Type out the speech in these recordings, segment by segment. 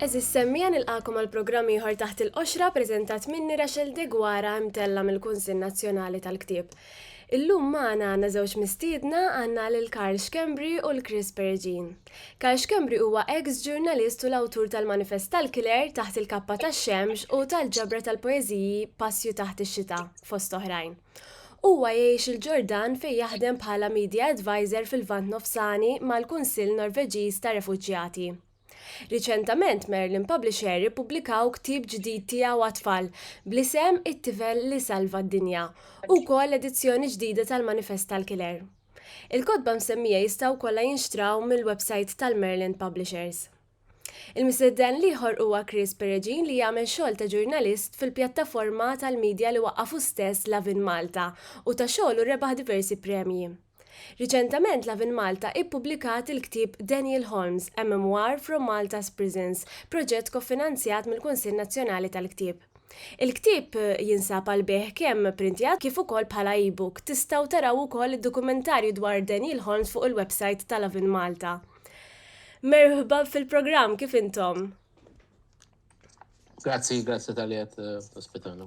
Eżis semmija nilqakom għal programm ieħor taħt il-qoxra preżentat minni Rachel Degwara mtella mill-Kunsill Nazzjonali tal-Ktieb. Illum magħna għandna żewġ mistiedna, għandna lil Karl Schembri u 'l Chris Perugin. Karl Schembri huwa eks ġurnalist u l-awtur tal-Manifest tal-Killer, Taħt il-Kappa tax-Xemx u tal-ġabra tal-poeżiji Passju Taħt ix-Xita, fost oħrajn. Huwa jgħix il-Ġordan fejn jaħdem bħala Media Advisor fil-Lvant Nofsani mal-Kunsill Norveġiż tar-Refuġjati. Riċentament Merlin Publisher ippubblikaw ktieb ġdid tiegħu għat-tfal bl-isem It-Tifel li Salva d-Dinja u wkoll edizzjoni ġdida tal-Manifest tal-Kiler. Il-kotba msemmija jistgħu wkollha jinxtraw mill-websajt tal-Merlin Publishers. Il-mistedden l-ieħor huwa Chris Peregin li jagħmel xogħol ta' ġurnalist fil-pjattaforma tal-midja li waqqafu stess Lovin Malta u ta' xogħlu rebaħ diversi premji. Riċentament Lovin' Malta ippubblikat il-ktieb Daniel Holmes, A Memoir from Malta's Prisons, proġett kofinanzjat mill-Kunsill Nazzjonali tal-Ktieb. Il-ktieb jinsab għall-bejgħ kemm printjat kif ukoll bħala e-book. Tistgħu taraw ukoll id-dokumentarju dwar Daniel Holmes fuq il-websajt ta' Lovin' Malta. Merħba fil-programm, kif intom? Grazzi, grazzi tal-li qed tospitana.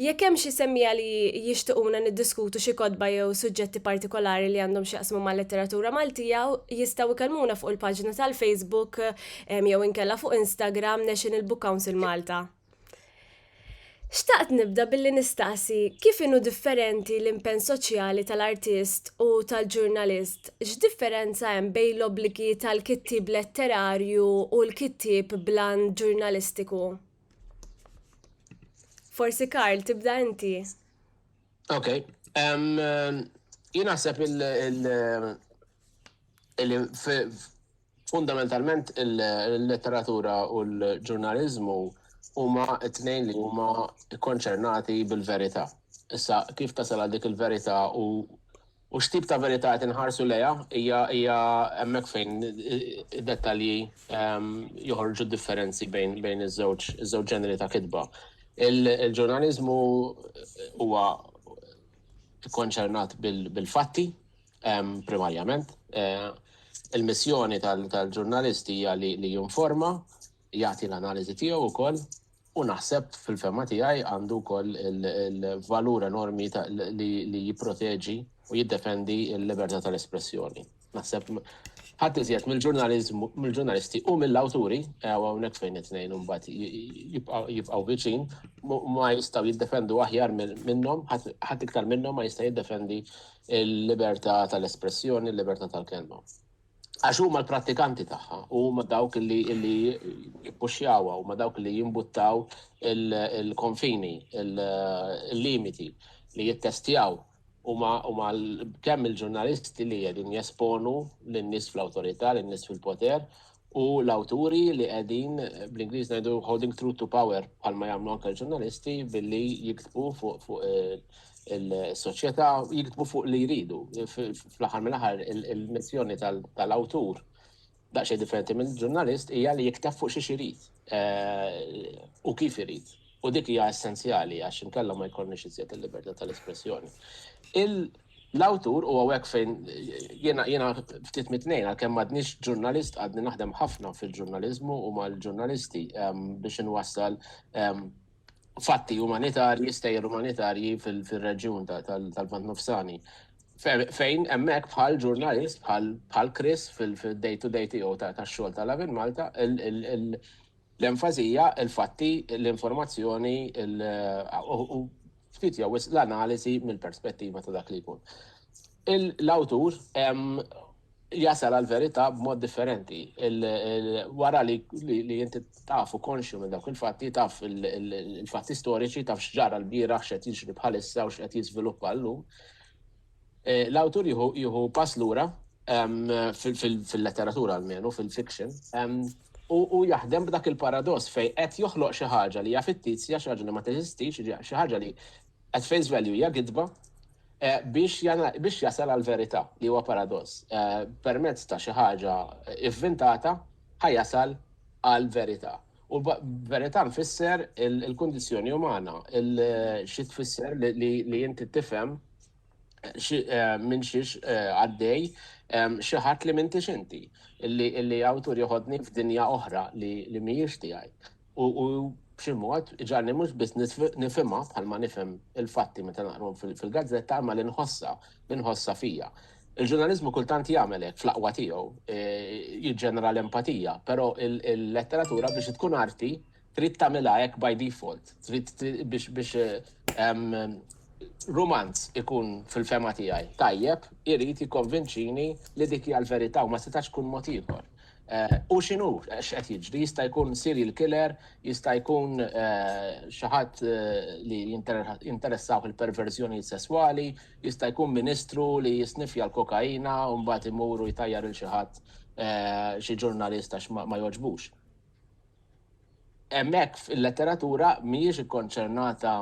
Jekk hemm xi semmiegħa li jixtiquna niddiskutu xi kotba jew suġġetti partikolari li għandhom x'jaqsmu mal-letteratura Maltija, jistgħu jkellmuna fuq il-paġna tal-Facebook jew inkella fuq Instagram National Book Council Malta. Xtaqt nibda billi nistaqsi kif inhu differenti l-impenn soċjali tal-artist u tal-ġurnalist? X'differenza hemm bejn l-obbligi tal-kittieb letterarju u l-kittieb bl-għan ġurnalistiku? Forsi Karl, tibda inti. Ok. Jien naħseb il-fundamentalment il-letteratura u l-ġurnalizmu huma t-tnejn li huma konċernati bil-verità. Issa, kif tasal għal dik il-verità u U x'tip ta' verità qed inħarsu lejha? Hija hija hemmhekk fejn id-dettalji joħorġu d-differenzi bejn bejn iż-żewġ iż-żewġ ġeneri ta' kitba. Il-ġurnaliżmu huwa kkonċernat bil-fatti primarjament. Il-missjoni tal-ġurnalist hija li jinforma, jagħti l-analiżi tiegħu wkoll. U naħseb fil-fema tiegħi għandu wkoll il-valur enormi li jipproteġi u jiddefendi l-libertà tal-espressjoni. Naħseb ħadd iżjed mill-ġurnaliżmu mill-ġurnalisti u mill-awturi eh, hawnhekk fejn it-tnejn imbagħad jibqgħu viċin ma jistgħu jiddefendu aħjar minnhom ħadd iktar minnhom ma jista' jiddefendi l-libertà tal-espressjoni, l-libertà tal-kelma. Għax huma l-prattikanti tagħha, huma dawk li li jippuxjawha, huma dawk li jimbuttaw il-konfini, il-limiti li jittestjaw huma huma kemm il-ġurnalisti li qegħdin jesponu lin-nies fl-awtorità, lin-nies fil-poter u l-awturi li qegħdin bl-Ingliż ngħidu holding true to power bħalma jagħmlu anke l-ġurnalisti billi jiktbu fuq fuq il-soċjetà jiktbu fuq li jridu. Fl-aħħar mill-aħħar il-missjoni tal-awtur daqsxejn differenti minn ġurnalist hija li jikteb fuq xi irid eh, u kif irid. U dik hija essenzjali għax inkella ma jkollniex iżjed il-libertà tal-espressjoni. L-awtur u għawek fejn jena jena ftit mitnejn għalkemm m'għadniex ġurnalist għadni naħdem ħafna fil-ġurnalizmu u mal-ġurnalisti ehm, biex inwassal ehm, fatti umanitarji, stejjer umanitarji fil-reġjun tal-Vant Nofsani. Fejn hemmhekk bħal ġurnalist bħal Chris fil-day to day tiegħu tax-xogħol tal-Avin Malta, l-enfasija, il-fatti, l-informazzjoni u ftit jew l-analiżi mill-perspettiva ta' dak li jkun. L-awtur jasal għall-verità b'mod differenti. Wara li inti taf u konxju minn dawk il-fatti, taf il-fatti storiċi, taf x'ġara l-bieraħ, x'qed jiġri bħalissa u x'qed jiżviluppa llum, l-awtur jieħu pass lura, fil-letteratura almenu, fil-fiction, u jaħdem b'dak il-paradoss fejn qed joħloq xi ħaġa li hija fittizja, xi ħaġa li ma teżistix, xi ħaġa li At face value hija gidba biex jasal għall-verità, li huwa paradoss. Permezz ta' xi ħaġa ivvintata ħa jasal għall-verità. U b'verità nfisser il-kundizzjoni umana, xi tfisser li inti tifhem minn xiex għaddej xi ħadd li m'intix inti, illi awtur joħodni f'dinja oħra li mhijiex tiegħi. u b'xi mod iġgħalni mhux biss nifhimha bħalma nifhem il-fatti meta naqrhom fil-gazzetta imma li nħossha, li nħossha fija. Il-ġurnaliżmu kultant jagħmel hekk fl-aqwa tiegħu, e, jiġġenera l-empatija, però il-letteratura biex tkun arti trid tagħmilha hekk by default, trid biex biex romanz ikun fil-fema tiegħi tajjeb, irid jikkonvinċini li dik hija l-verità u ma setax tkun mod ieħor. Hu x'inhu, x'qed jiġri, jista' jkun serial killer, jista' jkun xi ħadd li jinteressawh il-perverżjonijiet sesswali, jista' jkun ministru li jisniffja l-kokaina u mbagħad imur u jtajjar lil xi ħadd, xi ġurnalist għax ma jogħġbux. Hemmhekk il-letteratura mhijiex ikkonċernata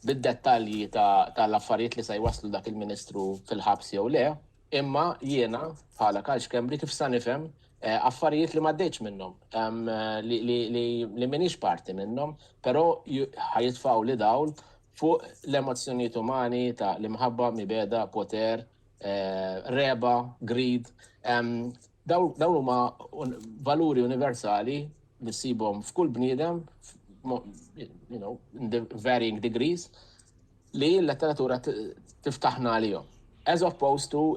bid-dettalji tal-affarijiet li se jwasslu dak il-ministru fil-ħabs jew le, Imma jiena, bħala Karl Schembri, kif sa nifhem, affarijiet li m'għaddejtx minnhom, li m'iniex parti minnhom, però ħa jitfgħuli dawl fuq l-emozzjonijiet umani ta' l-imħabba, mibegħda, poter, regħba, greed, Dawn huma valuri universali li ssibhom f'kull bniedem, you know, in the varying degrees, li l-letteratura tiftaħna għalihom. As opposed to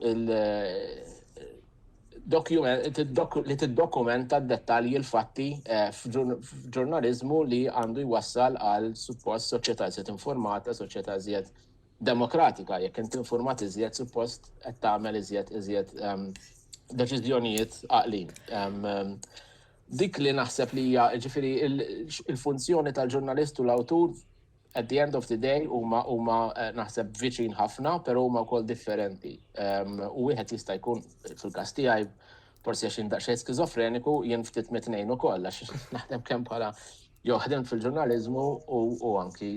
li tiddokumenta d-dettalji l-fatti eh, f'ġurnalizmu li għandu jwassal għal suppost soċjetà zjed informata, soċjetà zjed demokratika, jekk int informat iżjed suppost qed tagħmel iżjed iżjed ehm, deċiżjonijiet għaqlin. Ehm, ehm, dik li naħseb li hija ġifieri il-funzjoni tal-ġurnalist u l-awtur at the end of the day huma huma eh, naħseb viċin ħafna, però huma wkoll differenti. U wieħed jista' jkun fil-każ tiegħi Forsi għax jien daqsxejn skizofreniku, jien ftit mit-tnejn ukoll għax naħdem kemm bħala jew ħdem fil-ġurnaliżmu u anki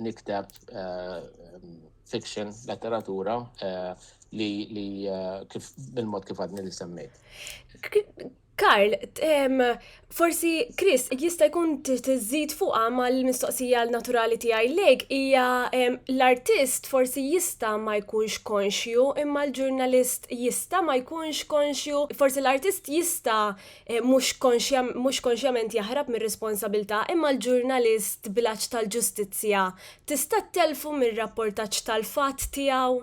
nikteb fiction, letteratura li kif bil-mod kif għadni li semmejt. Karl, Forsi, Chris, jista' jkun tiżżid fuqha mal-mistoqsija naturali tiegħi lejk hija l-artist forsi jista' ma jkunx konxju imma l-ġurnalist jista' ma jkunx konxju, forsi l-artist jista' eh, mhux konxjament jaħrab mir-responsabilità imma l-ġurnalist bil-għatx tal-ġustizzja tista' telfu mir-rapportaġġ tal-fatt tiegħu.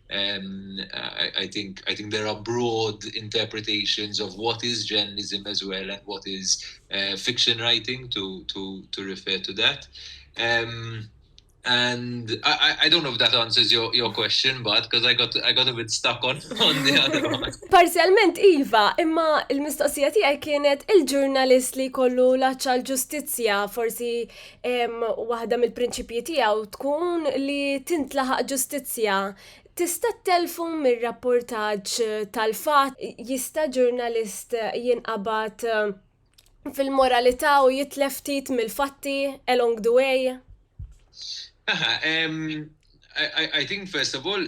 um, I, I, think I think there are broad interpretations of what is journalism as well and what is uh, fiction writing to to to refer to that. Um, and I, I don't know if that answers your, your question, but because I got I got a bit stuck on on the other one. Parzialment iva, imma il-mistoqsija tiegħi kienet il-ġurnalist li kollu laċċa l-ġustizzja forsi waħda mill-prinċipji tiegħu tkun li tintlaħaq ġustizzja. Tista' telfu mir-rapportaġġ tal-fatt jista' ġurnalist jinqabad eh, fil-moralità u jitlef ftit mill-fatti along the way? Aha, I, I, I think first of all,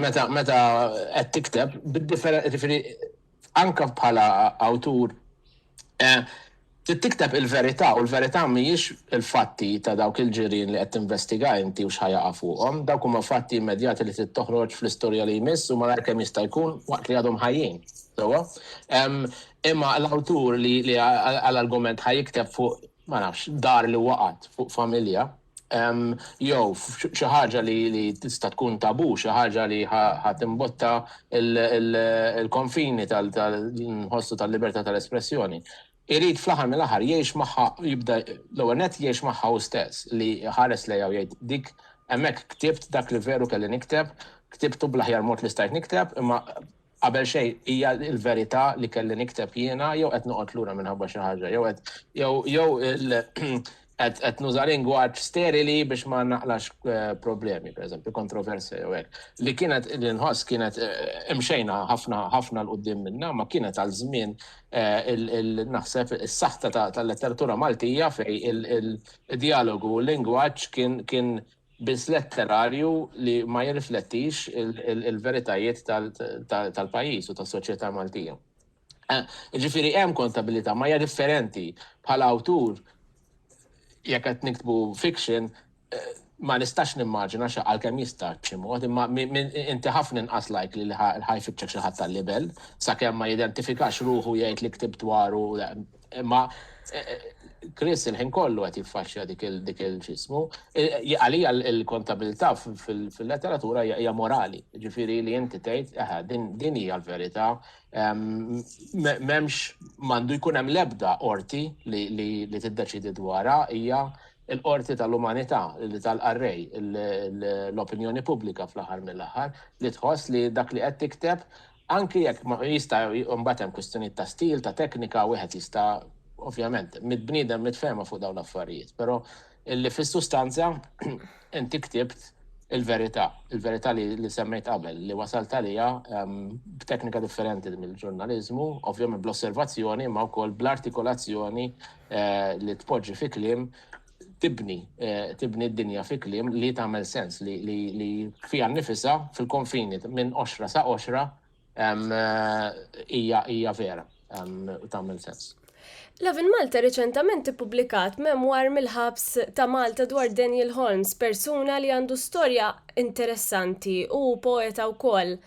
Meta meta qed tikteb, ġifieri anke bħala awtur trid tikteb il-verità u l-verità mhijiex il-fatti ta' dawk il-ġirien li qed tinvestiga inti u x'ħa jaqa' fuqhom, dawk huma fatti immedjati li trid toħroġ fl-istorja li jmiss u malajr kemm jista' jkun waqt li għadhom ħajjin. Sewwa? Imma l-awtur li għal argument ħa jikteb fuq, ma nafx, dar li waqgħet, fuq familja, jew xi ħaġa li tista' tkun tabu, xi ħaġa li ħa timbotta l-konfini tal-inħossu tal-libertà tal-espressjoni. Irid fl-aħħar mill-aħħar jgħix magħha jibda l-ewwel nett jgħix magħha hu stess, li jħares lejha u jgħid dik hemmhekk ktibt dak li veru kelli nikteb, ktibtu bl-aħjar mod li stajt nikteb, imma Qabel xejn, hija l-verità li kelli nikteb jiena jew qed noqgħod lura minħabba xi ħaġa? Jew qed jew jew qed qed nuża lingwaġġ sterili biex ma naqlax problemi, pereżempju kontroversja jew hekk, li kienet li nħoss kienet imxejna ħafna ħafna 'l quddiem minnha, imma kienet għal żmien naħseb is-saħta tal-letteratura Maltija fejn id-djalogu u l-lingwaġġ kien kien biss letterarju li ma jirriflettix il-veritajiet tal-pajjiż u tas-soċjetà Maltija. Eh, ġifiri hemm kontabilità, ma hija differenti bħala awtur jekk qed niktbu fiction eh, ma nistax nimmaġina xa għalkemm jista' b'xi mod, imma inti ħafna inqas lajk li ħaj fitxek xi ħadd tal-libel, sakemm ma jidentifikax ruħu jgħid li ktib dwaru Imma Chris il-ħin kollu qed jiffaxxja dik il-ġismu. Għalija l-kontabilità fil-letteratura hija morali, ġifieri li inti tgħid aha din hija l-verità. M'hemmx m'għandu jkun hemm l-ebda qorti li tiddeċidi dwarha hija l-qorti tal-umanità li tal-qarrej l-opinjoni pubblika fl-aħħar mill-aħħar li tħoss li dak li qed tikteb Anki jekk jista' mbagħad hemm kwistjonijiet ta' stil, ta' teknika, wieħed jista' ovvjament, bniedem mitfehma fuq dawn l-affarijiet, però illi fis-sustanza inti ktibt il-verità, il-verità li semmejt qabel, li wasalt għaliha b'teknika differenti mill-ġurnaliżmu, ovvjament bl-osservazzjoni imma wkoll bl-artikolazzjoni li tpoġġi fi kliem tibni tibni d-dinja fi kliem li tagħmel sens li li li fija nifisa fil-konfini minn oxra sa oxra hija hija vera tagħmel sens. Lavin Malta reċentament ippubblikat memwar mill-ħabs ta' Malta dwar Daniel Holmes, persuna li għandu storja interessanti u poeta wkoll.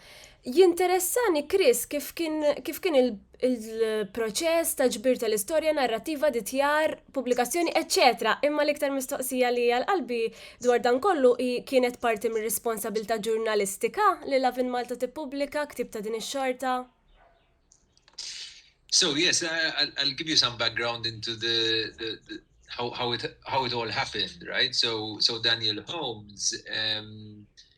Jinteressani Chris kif kien kif kien il-proċess ta' ġbir tal-istorja, narrativa, ditjar, pubblikazzjoni, eċċetera Imma l-iktar mistoqsija li għal qalbi dwar dan kollu hi kienet parti mir-responsabilità ġurnalistika li Lovin' Malta tippubblika ktieb ta' din ix-xorta? So yes, I'll give you some background into the, the, the how, how, it, how it all happened, right? So, so Daniel Holmes um,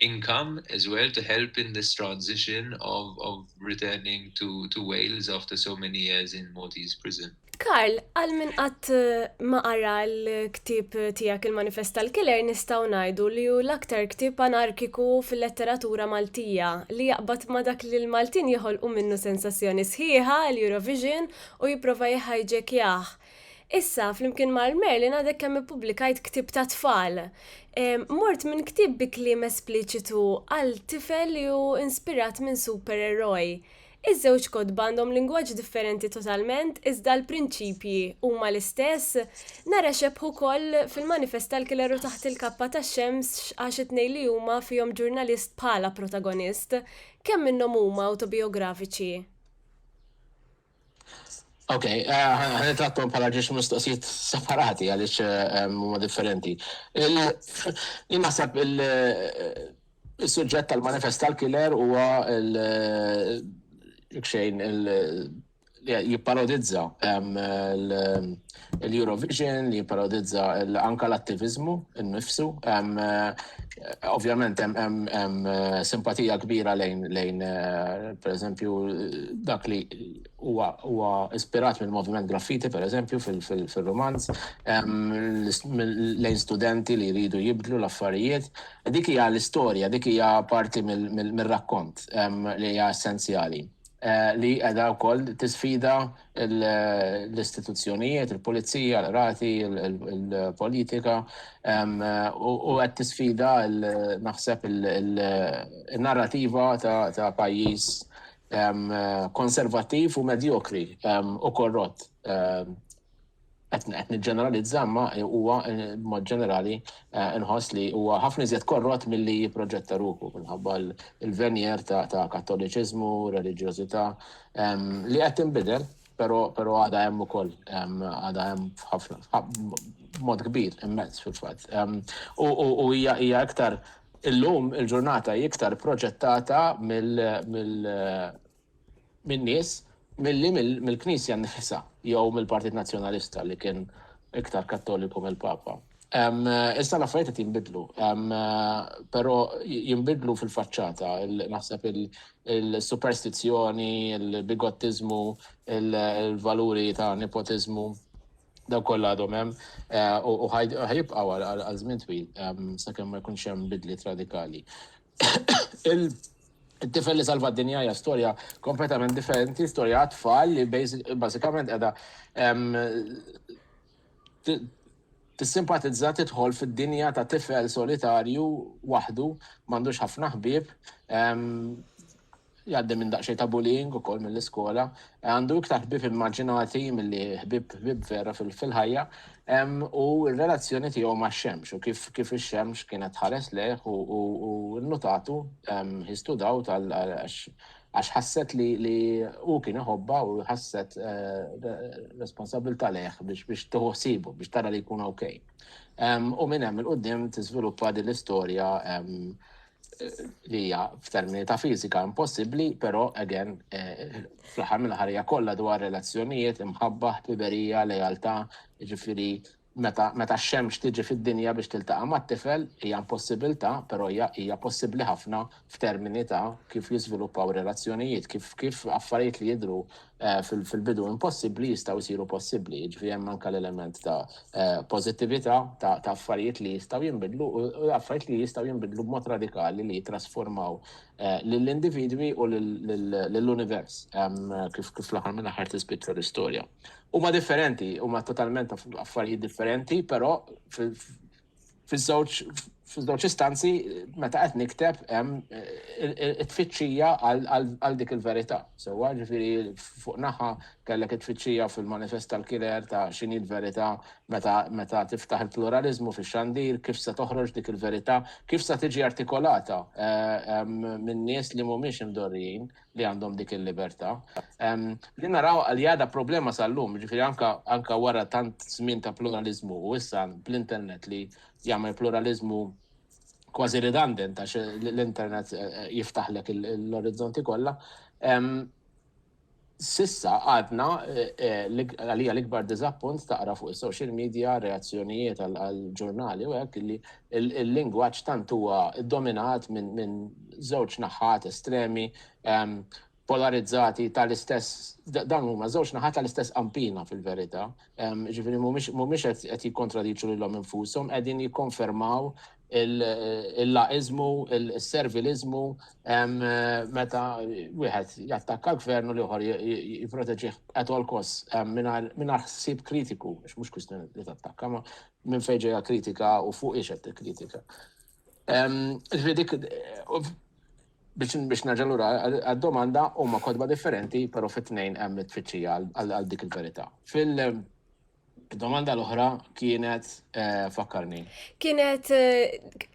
income as well to help in this transition of of returning to to Wales after so many years in Maltese prison. Karl, għal min qatt eh, ma qara l-ktib tiegħek il-Manifest tal-Killer nistgħu ngħidu li hu l-aktar ktib anarkiku fil-letteratura Maltija li jaqbad ma dak li l-Maltin joħolqu minnu sensazzjoni sħiħa l-Eurovision u jipprova jħajġek jah. Issa, flimkien mal-Merlin għadek kemm ippubblikajt ktieb ta' tfal. Mort minn ktieb bi kliem espliċitu għal tifel li hu inspirat minn supereroj. Iż-żewġ kotba għandhom lingwaġġ differenti totalment iżda l-prinċipji huma l-istess, nara xebħ ukoll fil-manifest tal-killer u taħt il-kappa tax-xemx għax it-tnejn li huma fihom ġurnalist bħala protagonist. Kemm minnhom huma awtobijografiċi? Ok, għan trattom bħala ġiex mistoqsijiet separati għalix huma differenti. Il-nasab il-sujġett tal-manifest tal-killer huwa il-xejn il- jipparodizza l-Eurovision li jipparodizza anke l-attiviżmu nnifsu. Ovvjament hemm simpatija kbira lejn lejn pereżempju dak li huwa huwa ispirat mill-moviment graffiti pereżempju fil-romanz lejn studenti li jridu jibdlu l-affarijiet. Dik hija l-istorja, dik hija parti mir-rakkont li hija essenzjali. li qiegħda wkoll tisfida l-istituzzjonijiet, il-pulizija, l-qrati, il-politika u qed tisfida naħseb il-narrativa ta' pajjiż konservattiv u medjokri u korrott. qed niġġeneralizza imma huwa b'mod ġenerali inħoss li huwa ħafna iżjed korrott milli jipproġetta ruħu minħabba l-venjer ta' Kattoliċiżmu, reliġjożità li qed tinbidel però però għadha hemm ukoll għadha hemm f'ħafna b'mod kbir immens fil-fatt. U hija hija iktar illum il-ġurnata iktar proġettata mill mill min-nies milli mill-Knisja nnifisha jew mill-Partit Nazzjonalista li kien iktar Kattoliku mill-Papa. Issa l-affarijiet qed jinbidlu, però jinbidlu fil-faċċata, naħseb il-superstizzjoni, il-bigottiżmu, il-valuri ta' nepotiżmu, dawk kollha għadhom hemm u ħajibqgħu għal żmien twil sakemm ma jkunx hemm bidliet radikali. Il-tifel li salva d-dinja hija storja kompletament differenti, storja għat-tfal li bażikament qiegħda tissimpatizza tidħol fid-dinja ta' tifel solitarju waħdu, m'għandux ħafna ħbieb, Jgħaddi minn daqsxejn ta' bullying ukoll mill-iskola. Għandu iktar ħbieb immaġinati milli ħbieb ħbieb vera fil-ħajja u r-relazzjoni tiegħu max-xemx u kif kif ix-xemx kienet tħares lejh u nnutatu he stood out għax ħasset li li hu kien iħobbha u ħasset responsabbiltà lejh biex biex tieħu ħsiebu biex tara li jkun okay. U minn hemm 'il quddiem tiżviluppa din l-istorja li hija f'termini ta' fiżika impossibbli, però again eh, fl-aħħar mill-ħarija kollha dwar relazzjonijiet, imħabba, ħbiberija, lealtà, ġifieri meta meta x-xemx tiġi fid-dinja biex tiltaqa' mat-tifel hija impossibilità, però hija hija possibbli ħafna f'termini ta' kif jiżviluppaw relazzjonijiet, kif kif affarijiet li jidhru fil-bidu impossibbli jistgħu jsiru possibbli, jiġifieri hemm anke l-element ta' pożittività, ta' affarijiet li jistgħu jinbidlu u affarijiet li jistgħu jinbidlu b'mod radikali li jittrasformaw lill-individwi u lill-univers kif fl-aħħar mill-aħħar tispiċċa l-istorja. Huma differenti, huma totalment affarijiet differenti, però fiż-żewġ istanzi meta qed nikteb hemm it-tfittxija għal dik il-verità. Sewwa, ġifieri fuq naħa kellek it-tfittxija fil-manifest tal-Kiler ta' x'inhi l-verità meta tiftaħ il-pluraliżmu fix-xandir, kif se toħroġ dik il-verità, kif se tiġi artikolata minn nies li mhumiex imdorrijin. li għandhom dik il-libertà. Li naraw għal jada problema sal-lum, ġifiri anka wara tant żmien ta' pluralizmu u issa bl-internet li jagħmel pluralizmu kważi redundant għax l-internet eh, eh, jiftaħlek l-orizzonti kollha. Sissa għadna eh, għalija l-ikbar dizappunt taqra fuq is-social media, reazzjonijiet għal-ġurnali u hekk li il-lingwaġġ tant huwa ddominat minn żewġ naħat estremi, polarizzati tal-istess, dawn huma żewġ naħat tal-istess qampina fil-verità, jiġifieri mhumiex qed jikkontradiċu lilhom infushom, qegħdin jikkonfermaw il-laqiżmu, is-serviliżmu meta wieħed jattakka l-Gvern u l-ieħor jipproteġih at all costs mingħajr ħsieb kritiku, għax mhux kwistjoni li tattakka, minn fejn ġejja kritika u fuq ix qed kritika. Dik biex nerġa' lura għad-domanda huma kotba differenti, però fit-tnejn hemm it-tfittxija għal dik il-verità. Fil-domanda l-oħra kienet fakkarni. Kienet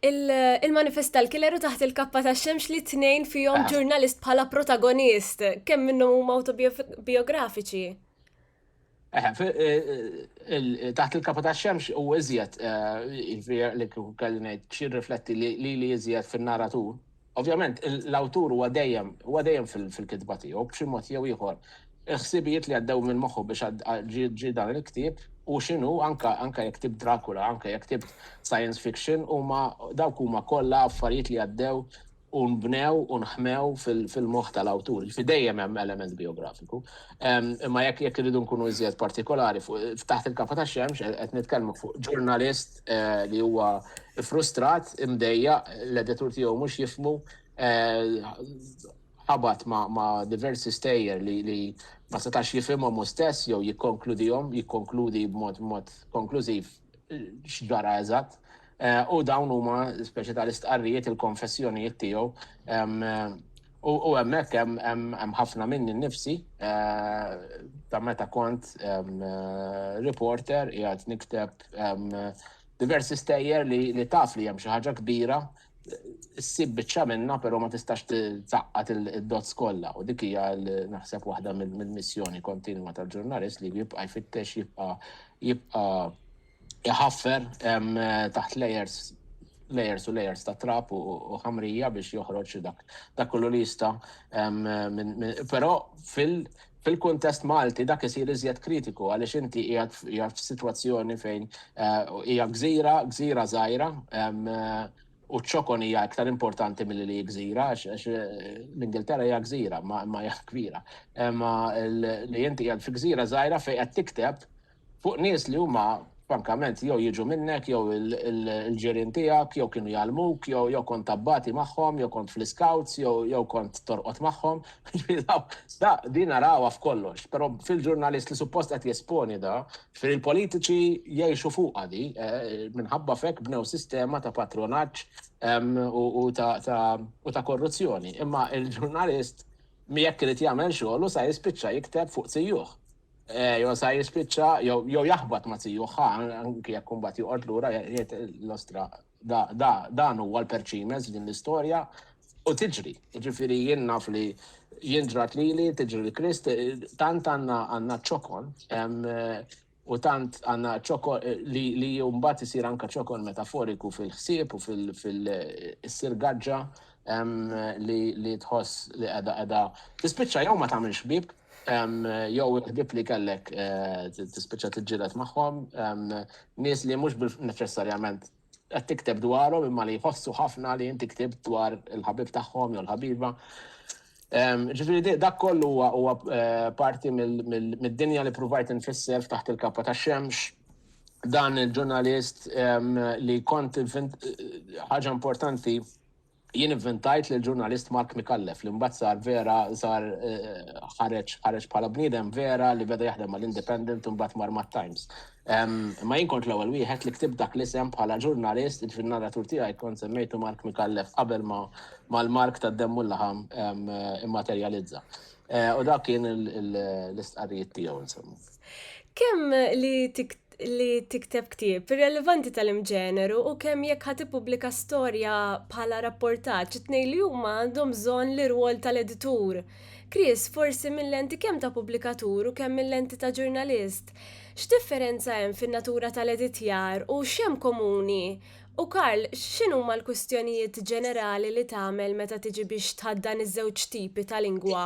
il-manifest tal-killer u taħt il-kappa tax-xemx li tnejn fihom ġurnalist bħala protagonist, kemm minnhom huma awtobiografiċi. Taħt il-kapa tax-xemx u iżjed, jiġifieri li kieku kelli ngħid x'jirrifletti lili iżjed fin-narratur, ovvjament l-awtur huwa dejjem huwa dejjem fil-kitba tiegħu b'xi mod jew ieħor il-ħsibijiet li għaddew minn moħħu biex ġie dan il-ktieb u x'inhu anke anke jekk ktibt Dracula, anke jekk ktibt science fiction huma dawk huma kollha affarijiet li għaddew u nbnew u nħmew fil-moħħ tal-awtur, jiġifieri dejjem hemm element bijografiku. Imma jekk irridu nkunu iżjed partikolari, f'Taħt il-Kappa tax-Xemx qed nitkellmu fuq ġurnalist li huwa frustrat, imdejjaq, l-editur tiegħu mhux jifhmu, ħabat ma' diversi stejjer li ma setax jifhimhom hu stess jew jikkonkludihom, jikkonkludi b'mod konklużiv x'ġara eżatt. U dawn huma speċi tal-istqarrijiet il-konfessjonijiet tiegħu. U hemmhekk hemm ħafna minni nnifsi ta' meta kont reporter qiegħed nikteb diversi stejjer li taf li hemm xi ħaġa kbira ssib biċċa minna, però ma tistax tzaqqat il-dots kollha u dik hija naħseb waħda mill-missjoni kontinwa tal-ġurnalist li jibqa' jfittex jibqa' jibqa' jħaffer taħt layers layers u layers ta' trap u ħamrija biex joħroġ dak dak kollu li jista' però fil Fil-kuntest Malti dak isir iżjed kritiku għaliex inti qiegħed qiegħed f'sitwazzjoni fejn hija gżira, gżira żgħira, u ċ-ċokon hija iktar importanti milli li hi gżira għax għax l-Ingilterra hija gżira ma ma hija kbira. Imma li inti qiegħed fi gżira żgħira fejn qed tikteb fuq nies li huma frankament jew jiġu minnek jew il-ġirien tiegħek jew kienu jgħallmuk jew jew kont tabbati magħhom jew kont fl-iskawts jew jew kont torqod magħhom. Da din narawha f'kollox, però fil-ġurnalist li suppost qed jesponi da, fir il-politiċi jgħixu fuqha di, eh, minħabba fek bnew sistema ta' patronaġġ u ta' korruzzjoni. Imma il-ġurnalist jekk irid jagħmel xogħol u sa jispiċċa jikteb fuq sijuħ. Eh, jo sa jispicċa, jo jaħbat ma tiju, ħa, anki jek kumbat juqot l-ura, jiet l-ostra, dan huwa l-perċimes din l-istoria, u tiġri, ġifiri jien naf li jien ġrat li li tiġri li krist, tant għanna għanna ċokon, eh, u tant għanna ċokon eh, li li jumbat jisir anka ċokon metaforiku fil-ħsieb u fil-sirgaġġa li tħoss li għada għada. Tispicċa jew ma tamilx bib, jew il-ħbieb li kellek tispiċċa tiġġieled magħhom, nies li mhux neċessarjament qed tikteb dwarhom imma li jħossu ħafna li inti ktib dwar il-ħabib tagħhom jew l-ħabiba. Ġifieri dak kollu huwa huwa eh, parti mid-dinja li pruvajt infisser f'taħt il-kappa ta' xemx dan il-ġurnalist li kont ħaġa importanti Jien ivvintajt lill-ġurnalist Mark Micallef li mbagħad sar vera sar ħareġ ħareġ bħala bniedem vera li beda jaħdem mal-Independent u mbagħad mar mat-Times. Imma jien kont l-ewwel wieħed li ktibt dak l-isem bħala ġurnalist, jiġifieri n-narratur tiegħi kont semmejtu Mark Micallef qabel ma ma l-Mark tad-demm u l-laħam immaterjalizza. U dak kien l-istqarrijiet tiegħu insomma. Kemm li tikteb li tikteb ktieb irrelevanti tal-imġeneru u kemm jekk ħad tippubblika storja bħala rapportaġġ it-tnejn li huma għandhom bżonn l-irwol tal-editur. Chris, forsi mil-lenti kemm ta' pubblikatur u kemm mil-lenti ta' ġurnalist, x'differenza hemm fin-natura tal-editjar u x'hemm komuni? U Karl, x'inhuma l-kwistjonijiet ġenerali li tagħmel meta tiġi biex tħaddan iż-żewġ tipi ta' lingwa?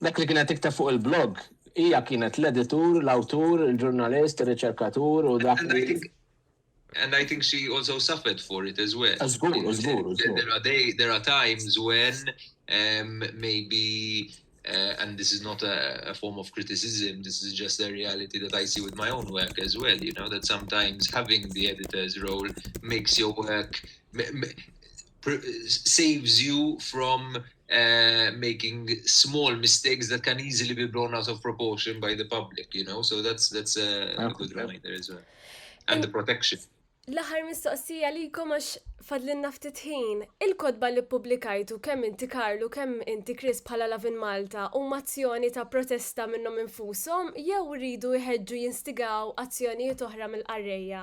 Dak li kienet tikteb fuq il-blog, hija kienet l-editur, l-awtur, il-ġurnalist, ir-riċerkatur u dak li. And I think she also suffered for it as well. Żgur, żgur, żgur. There are times when um, maybe uh, and this is not a, a, form of criticism, this is just a reality that I see with my own work as well, you know, that sometimes having the editor's role makes your work, saves you from uh, making small mistakes that can easily be blown out of proportion by the public, you know, so that's, that's a, a good reminder as well. And the protection. L-aħħar mistoqsija li jkom għax fadlinna ftit ħin, il-kodba li publikajtu kemm inti Karlu kemm inti Chris bħala Lavin Malta u mazzjoni ta' protesta minnhom infushom jew rridu jħeġġu jinstigaw azzjonijiet oħra mill-qarrejja?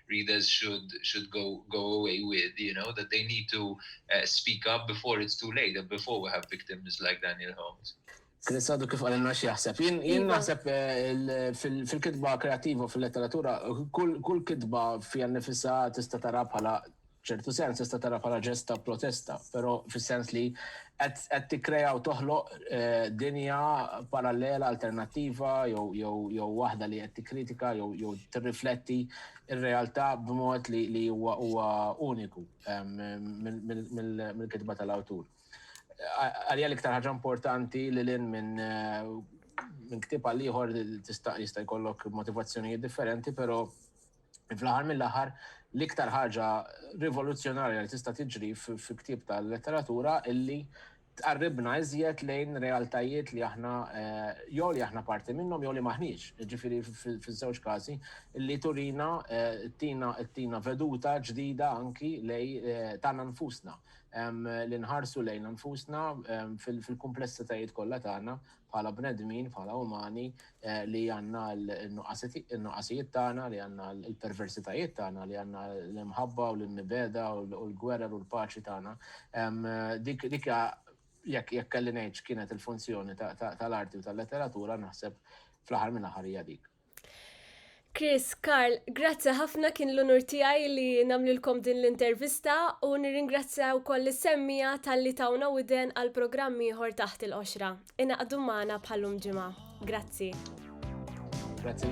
readers should should go go away with you know that they need to uh, speak up before it's too late and before we have victims like Daniel Holmes. Chris għadu kif għalinna xieħseb. Jien iva. naħseb eh, fil-kitba kreativa, fil-letteratura, kull kitba fija nifissa tista tara bħala f'ċertu sens tista' tara bħala ġest ta' protesta, però fis-sens li qed qed tikkrea u toħloq eh, dinja parallela alternattiva jew jew jew waħda li qed tikkritika jew jew tirrifletti r-realtà b'mod li li huwa huwa uniku em, mill- mill- mill- mill-kitba tal-awtur. Għalija l-iktar ħaġa importanti li lin minn eh, minn ktib għal ieħor tista' jista' jkollok motivazzjonijiet differenti, però Fl-aħħar mill-aħħar, l-iktar ħaġa rivoluzzjonarja li tista' tiġri fil-ktieb tal-letteratura illi tqarribna iżjed lejn realtajiet li aħna eh, jew li aħna parti minnhom jew li maħniex. Ġifieri fiż-żewġ każi li turina eh, tina tina veduta ġdida anki lej eh, tagħna nfusna li nħarsu lejn nfusna fil-kumplessitajiet kollha tagħna bħala bnedmin, bħala umani, li għandna l-nuqqasijiet tagħna, li għandna l-perversitajiet tagħna, li għandna l-imħabba u l-nibeda u l-gwerer u l-paċi tagħna. Dik jekk jekk kelli ngħid x'kienet il-funzjoni tal-arti u tal-letteratura naħseb fl-aħħar mill-aħħar hija dik. Chris, Karl, grazzi ħafna kien l-unur tiegħi li nagħmlilkom din l-intervista u nirringrazzja wkoll is-semmija talli tawna widen għal programm ieħor taħt il-qoxra. Inaqdu magħna bħalum ġimgħa. Grazzi. Grazzi.